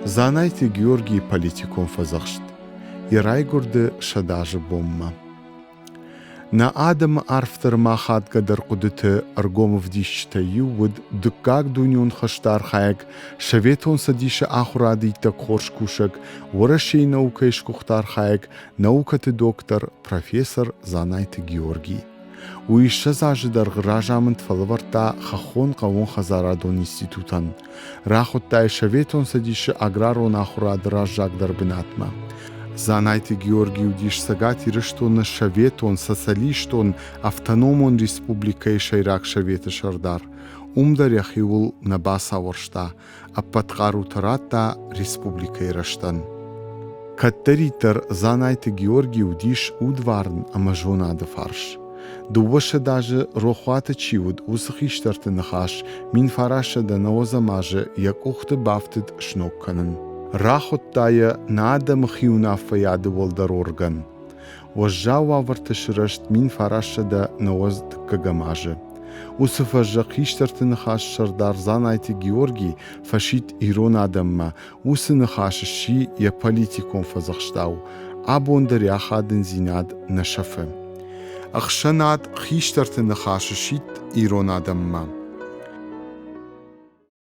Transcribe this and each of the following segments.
Дзанайты Георгий политикон фӕдзӕхст йӕ райгуырды сӕдӕ азы бонмӕ. Нӕ адӕмы арфдӕр ма хатгӕдӕр хъуыдыты ӕргом ӕвдисджытӕй иу уыд дыккаг дунеон хӕсты архайӕг Советон Цӕдисы ахуырады иттӕг хорз кусӕг, Уӕрӕсейы наукӕйы сгуыхт архайӕг наукӕты доктор, профессор Дзанайты Георгий. Уый ссӕдз азы дӕргъы разамынд фӕлӕвӕрдта хӕххон хъӕууонхӕдзарадон институтӕн, рахуыдта Советон Цӕдисы аграрон ахуырады раззагдӕр бынатмӕ. Дзанайты Георгий уыдис Цӕгат Ирыстоны Советон Социалистон Автономон Республикӕйы Сӕйраг Советы сӕрдар. Уым дӕр йӕхиуыл нӕ бацауӕрста, ӕппӕт хъарутӕ радта республикӕйы рӕзтӕн. Кӕддӕриддӕр Дзанайты Георги уыдис удварн ӕмӕ зонады фарс. Дыууӕсӕдз азы рохуаты чи уыд, уыцы хистӕрты ныхас мин фарасӕдӕ науӕдзӕмазы йӕ къухты бафтыд сног кӕнын. Рахуыдта йӕ нӕ адӕмы хиуынаффӕйады уӕлдӕр орган. Уӕззау уавӕрты сырӕзт мин фарассӕдӕ нӕуӕдз дыккӕгӕм азы. Уыцы фӕззӕг хистӕрты ныхас сӕрдар Дзанайты Георгий фӕсидт ирон адӕммӕ, уыцы ныхас сси йӕ политикон фӕдзӕхстау. Абон дӕр йӕ ахадындзинад нӕ сӕфы. Ӕхсӕнад хистӕрты ныхас сидт ирон адӕммӕ.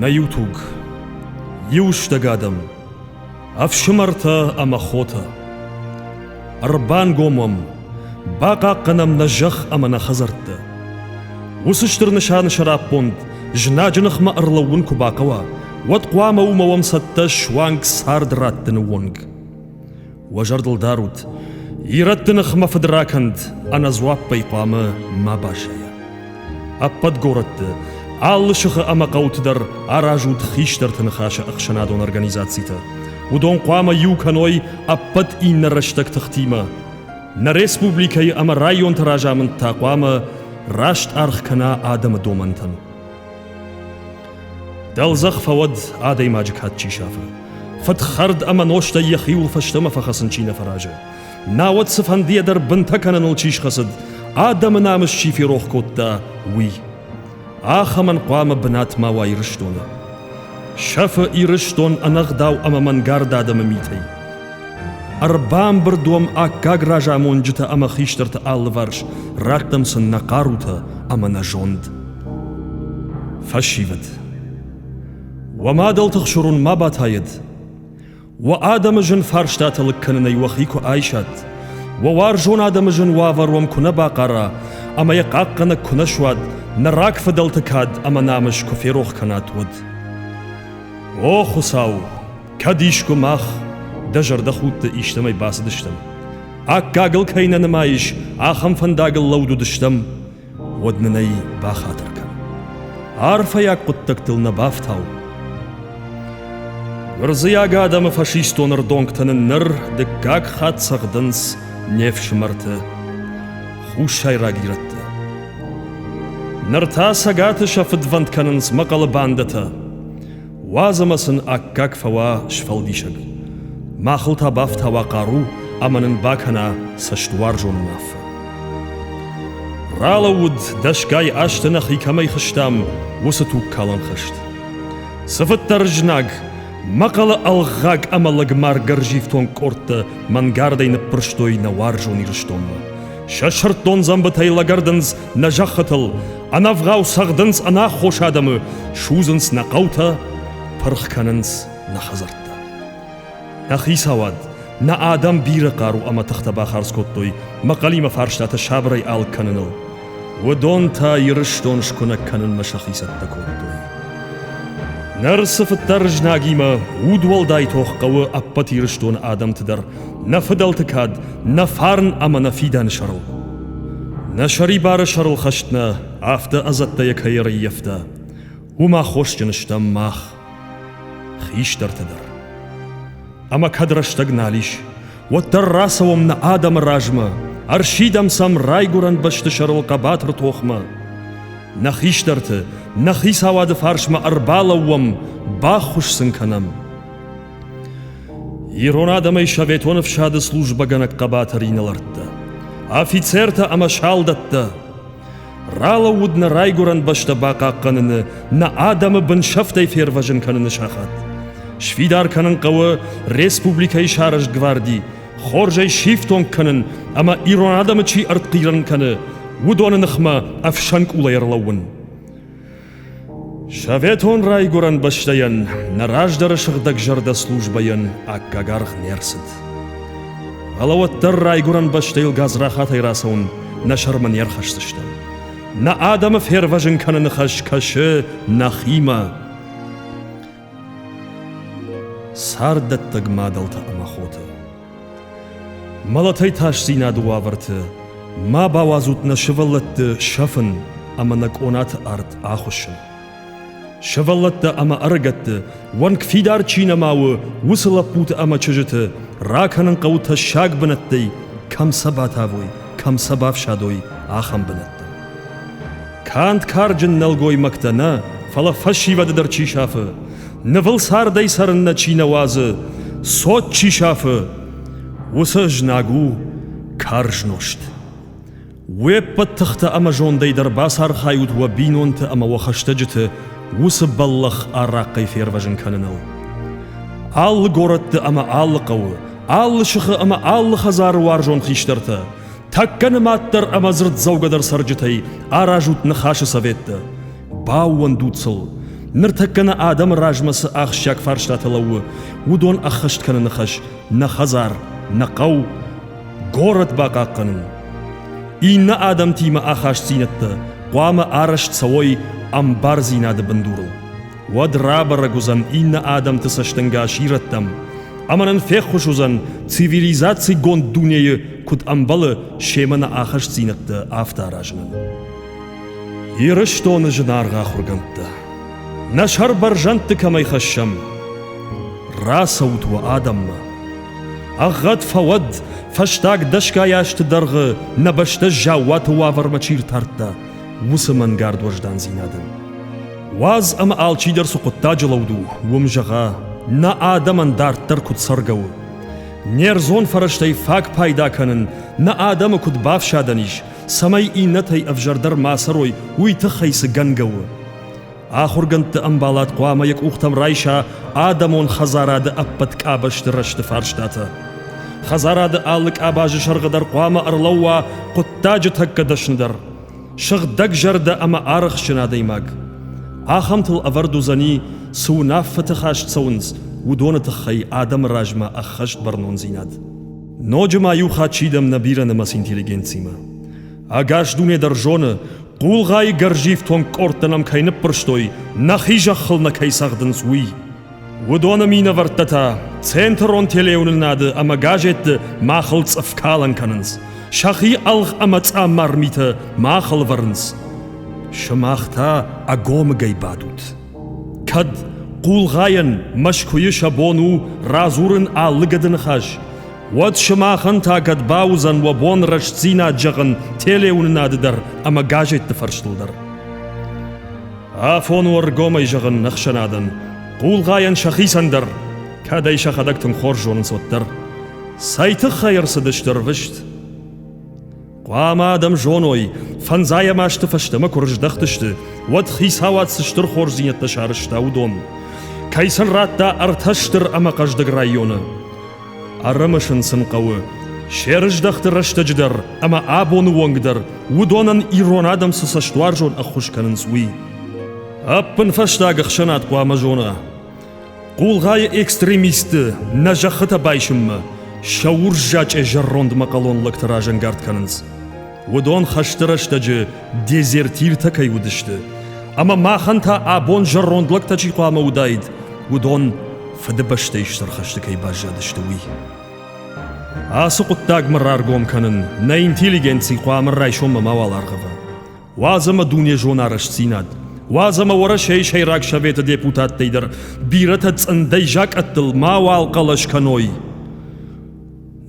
Нӕ иу туг, иу стӕг адӕм, ӕфсымӕртӕ ӕмӕ хотӕ, ӕрбангом уӕм, бахъахъхъӕнӕм нӕ зӕхх ӕмӕ нӕ хӕдзӕрттӕ. Уыцы стыр нысаны сӕраппонд знаджы ныхмӕ ӕрлӕууын куы бахъӕуа, уӕд хъуамӕ уымӕ уӕм цӕттӕ суанг цард раттыны онг. Уӕ зӕрдыл дарут, ирӕтты ныхмӕ фыд ракӕнд ӕнӕдзуаппӕй хъуамӕ ма басайа. Ӕппӕт горӕтты, алы сыхы ӕмӕ хъӕуты дӕр аразут хистӕрты ныхасы ӕхсӕнадон организацитӕ. Уыдон хъуамӕ иу кӕной ӕппӕт иннӕ рӕстӕг тыхтимӕ. Нӕ республикӕйы ӕмӕ районты разамынд та хъуамӕ раст аргъ кӕна адӕмы домӕнтӕн. Дӕлдзӕх фӕуӕд адӕймаджы кад чи сафы. Фыдхӕрд ӕмӕ нозтӕй йӕхиуыл фӕстӕмӕ фӕхӕцын чи нӕ фӕразы. Науӕд цыфӕндыйӕ дӕр бынтӕ кӕныныл чи схӕцыд, адӕмы намыс чи ферох кодта, уый. Ахӕмӕн хъуамӕ бынат ма уа Ирыстоны. Сӕфы Ирыстон ӕнӕгъдау ӕмӕ мӕнгард адӕмы митӕй. Ӕрбамбырд уӕм аккаг разамонджытӕ ӕмӕ хистӕрты алыварс, раттӕм сын нӕ хъарутӕ ӕмӕ нӕ зонд. Фӕсивӕд Уӕ мадӕлты хсурын ма батайӕд! Уӕ адӕмы зын фарстатӕ лыг кӕнынӕй уӕхи куы айсат, уӕ уарзон адӕмы зын уавӕр уӕм куы нӕ бахъара ӕмӕ йӕ хъахъхъӕнӕг куы нӕ суат, нӕ рагфыдӕлты кад ӕмӕ намыс куы ферох кӕнат, уӕд. О, Хуыцау, Кӕд искуы мах, дӕ зӕрдӕхудты истӕмӕй бацыдыстӕм, аккагыл кӕй нӕ нымайыс, ахӕм фӕндагыл лӕуд уыдыстӕм, уӕд нын ӕй бахатыр кӕн. Арфӕйаг хъуыддӕгтыл нӕ бафтау. Гуырдзыйаг адӕмы фашистон рдонгтӕ нын ныр дыккаг хатт цӕгъдынц не фсымӕрты хуссайраг ирӕтты. Ныр та цӕгаты сӕ фыдвӕнд кӕнынц мӕхъӕлы бандӕтӕ. Уадз ӕмӕ сын аккаг фӕуа сфӕлдисӕг. Махыл та бафтауа хъару ӕмӕ нын бакӕна цӕстуарзон уынаффӕ. Ралӕууыд, дӕсгай азты нӕхи кӕмӕй хызтам, уыцы тугкалӕн хызт. Цыфыддӕр знаг, мӕхъӕлы ӕлгъаг ӕмӕ лӕгмаргӕрзифтонг къордтӕ мӕнгардӕй ныппырстой нӕ уарзон Ирыстонмӕ. Сӕ сырддон дзӕмбытӕй лӕгӕрдынц Нӕ зӕххытыл ӕнӕвгъау цӕгъдынц ӕнаххос адӕмы, судзынц нӕ хъӕутӕ, пырх кӕнынц нӕ хӕдзӕрттӕ. Нӕ хицауад, нӕ адӕм бирӕ хъару ӕмӕ тыхтӕ бахардз кодтой мӕхъӕлимӕ фарстатӕ сабырӕй алыг кӕныныл. Уыдон та Ирыстон скуынӕг кӕнынмӕ сӕхи цӕттӕ кодтой. Ныр цыфыддӕр знагимӕ удуӕлдай тох хъӕуы ӕппӕт Ирыстоны адӕмты дӕр нӕ фыдӕлты кад нӕ фарн ӕмӕ нӕ фидӕны сӕрыл. Нӕ сӕрибары сӕрыл хӕст нӕ афтӕ ӕдзӕттӕйӕ кӕй ӕрыййӕфта, уым аххосджын стӕм мах, хистӕртӕ дӕр. Ӕмӕ кӕд рӕстӕг нал ис, уӕддӕр рацӕуӕм нӕ адӕмы размӕ, ӕрсидӕм сӕм райгуырӕн бӕсты сӕрыл хъӕбатыр тохмӕ. Нӕ хистӕрты, нӕ хицауады фарсмӕ ӕрбалӕууӕм, баххуыс сын кӕнӕм. Ирон адӕмӕй Советон ӕфсады службӕгӕнӕг хъӕбатыр инӕлӕрттӕ, афицертӕ ӕмӕ салдӕттӕ, ралӕууыд нӕ райгуырӕн бӕстӕ бахъахъхъӕныны, нӕ адӕмы бынсӕфтӕй фервӕзын кӕныны сахат. Сфидар кӕнын хъӕуы республикӕйы сӕрызт гварди, хорзӕй сифтонг кӕнын ӕмӕ ирон адӕмы чи ӕртхъирӕн кӕны, уыдоны ныхмӕ ӕфсӕн къулӕй ӕрлӕууын. Советон райгуырӕн бӕстӕйӕн нӕ раздӕры сыгъдӕгзӕрдӕ службӕйӕн аккаг аргъ не рцыд. Фӕлӕ уӕддӕр райгуырӕн бӕстӕйыл гадзрахатӕй рацӕуын нӕ сӕрмӕ не рхӕсдзыстӕм. Нӕ адӕмы фервӕзын кӕныны хӕс кӕсы нӕхимӕ. Царддӕттӕг мадӕлтӕ ӕмӕ хоты Мӕлӕтӕй тасдзинады уавӕрты ма бауадзут нӕ сывӕллӕтты сӕфын ӕмӕ нӕ къонаты арт ахуыссын. Сывӕллӕттӕ ӕмӕ ӕрыгӕтты уӕнг фидар чи нӕма у, уыцы лӕппуты ӕмӕ чызджыты ракӕнын хъӕуы тӕссаг бынӕттӕй, кӕм сӕ батавой, кӕм сӕ бафсӕдой, ахӕм бынӕттӕ. Канд карджын нӕлгоймӕгтӕ нӕ, фӕлӕ фӕсивӕды дӕр чи сафы, нывыл цардӕй цӕрыннӕ чи нӕ уадзы, цот чи сафы, уыцы знаг у карз нозт. Уе ппӕт тыхтӕ ӕмӕ зондӕй дӕр бацархайут уӕ бинонты ӕмӕ уӕ хӕстӕджыты уыцы бӕллӕх арахъхъӕй фервӕзын кӕныныл. Алы горӕтты ӕмӕ алы хъӕуы, алы сыхы ӕмӕ алы хӕдзары уарзон хистӕртӕ, Тӕккӕ нымаддӕр ӕмӕ дзырддзӕугӕдӕр цӕрджытӕй аразут Ныхасы советтӕ. Баууӕндут сыл. Ныртӕккӕ нӕ адӕмы размӕ цы ахсджиаг фарстатӕ лӕууы, уыдон ӕххӕст кӕны ныхас нӕ хӕдзар, нӕ хъӕу, горӕт бахъахъхъӕнын. Иннӕ адӕмтимӕ ахастдзинӕдтӕ хъуамӕ арӕзт цӕуой ӕмбардзинады бындурыл. уӕд рабӕрӕг уыдзӕн иннӕ адӕмты цӕстӕнгас ирӕттӕм ӕмӕ нын феххуыс уыдзӕн цивилизацигонд дунейы куыд ӕмбӕлы семӕ нӕ ахастдзинӕдтӕ афтӕ аразынӕн. Ирыстоны зынаргъ ахуыргӕндтӕ, нӕ сӕрбӕрзӕндты кӕмӕй хӕссӕм, рацӕут уӕ адӕммӕ. Ӕгъгъӕд фӕуӕд, фӕстаг дӕсгай азты дӕргъы нӕ бӕстӕ заууаты уавӕрмӕ чи ртардта, уыцы мӕнгард уӕздандзинадӕн. Уадз ӕмӕ алчидӕр цы хъуыддаджы лӕуд у, уым зӕгъа, нӕ адӕмӕн дарддӕр куыд цӕргӕ у. Не рдзон фӕрӕзтӕй фаг пайда кӕнын нӕ адӕмы куыд бафсадӕн ис, цӕмӕй иннӕтӕй ӕвзӕрдӕр ма цӕрой, уый тыххӕй цы гӕнгӕ у. Ахуыргӕндты ӕмбалад хъуамӕ йӕ къухтӕм райса адӕмон хӕдзарады ӕппӕт къабӕзты рӕзты фарстатӕ. Хӕдзарады алы къабазы сӕргъы дӕр хъуамӕ ӕрлӕууа хъуыддаджы тӕккӕ дӕсныдӕр, сыгъдӕгзӕрдӕ ӕмӕ арӕхстджын адӕймаг. Ахӕмтыл ӕвӕрд уыдзӕни, цы уынаффӕты хаст цӕуынц, уыдоны тыххӕй адӕмы размӕ ӕххӕст бӕрнондзинад. Ноджы ма иу хатт сидӕм нӕ бирӕнымӕц интеллигенциимӕ. Ӕгас дуне дӕр зоны, хъулгъайы гӕрзифтонг къордтӕ нӕм кӕй ныппӕрстой, нӕхи зӕххыл нӕ кӕй цӕгъдынц, уый. Уыдоны минӕвӕрттӕ та центрон телеуынынады ӕмӕ газетты махыл цъыфкалӕн кӕнынц, сӕхи ӕлгъ ӕмӕ цъаммар митӕ махыл вӕрынц. Сымах та ӕгомыгӕй бадут. Кӕд хъулгъайӕн Мӕскуыйы сӕ бон у радзурын алы гӕды ныхас, уӕд сымахӕн та кӕд бауыдзӕн уӕ бон рӕстдзинад зӕгъын телеуынынады дӕр ӕмӕ газетты фӕрстыл дӕр. Афон у ӕргомӕй зӕгъын ӕхсӕнадӕн, хъулгъайӕн сӕхицӕн дӕр, кӕд ӕй сӕхӕдӕг тынг хорз зонынц, уӕддӕр. Цӕй тыххӕй ӕрцыдысты рвыст? Хъуамӕ адӕм зоной, фӕндзайӕ масты фӕстӕмӕ куы рыздӕхтысты, уӕд хицауад цы стыр хорздзинӕдтӕ сарӕзта, уыдон. Кӕй сын радта ӕртӕ стыр ӕмӕ хъӕздыг районы. Ӕрымысын сын хъӕуы, се рыздӕхты рӕстӕджы дӕр ӕмӕ абоны онг дӕр уыдонӕн ирон адӕм цы цӕстуарзон ӕххуыс кӕнынц, уый. Ӕппынфӕстаг ӕхсӕнад хъуамӕ зона, Хъулгъайы экстремисты нӕ зӕххытӕ байсынмӕ сӕ урззачъе зӕронд мӕхъӕлон лӕгтӕ разӕнгард кӕнынц. Уыдон хӕсты рӕстӕджы дезертиртӕ кӕй уыдысты, ӕмӕ махӕн та абон зӕронд лӕгтӕ чи хъуамӕ уыдаид, уыдон Фыдыбӕстӕйы Стыр хӕсты кӕй баззадысты, уый. Ацы хъуыддагмӕ раргом кӕнын нӕ интеллигенци хъуамӕ райсоммӕ мауал аргъӕва. уадз ӕмӕ дунезон арӕстдзинад. Уадз ӕмӕ Уӕрӕсейы Сӕйраг Советы депутаттӕй дӕр бирӕтӕ цъындӕй закъӕттыл мауал хъӕлӕс кӕной.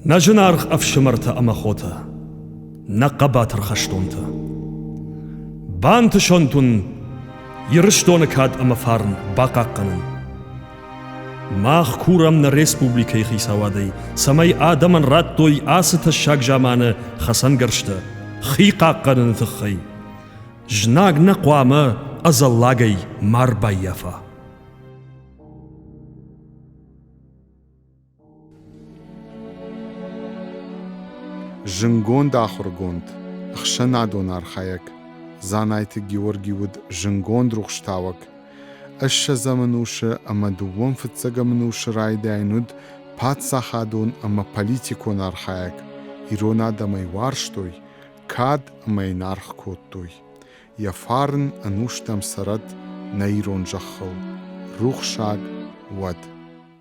Нӕ зынаргъ ӕфсымӕртӕ ӕмӕ хотӕ, нӕ хъӕбатыр хӕстонтӕ! Бантысӕнт уын Ирыстоны кад ӕмӕ фарн бахъахъхъӕнын! Мах курӕм нӕ республикӕйы хицауадӕй, цӕмӕй адӕмӕн радтой ацы тӕссаг заманы хӕцӕнгӕрзтӕ хи хъахъхъӕныны тыххӕй. Знаг нӕ хъуамӕ ӕдзӕллагӕй ма ӕрбаййафа. Зындгонд ахуыргонд, ӕхсӕнадон архайӕг Дзанайты Георги уыд зындгонд рухстауӕг. Ӕссӕдзӕм ӕнусы ӕмӕ дыууон фыццӕгӕм ӕнусы райдайӕн уыд паддзахадон ӕмӕ политикон архайӕг. Ирон адӕм ӕй уарзтой, кад ӕмӕ йын аргъ кодтой. Йӕ фарн ӕнустӕм цӕрӕд нӕ ирон зӕххыл, рухсаг уӕд!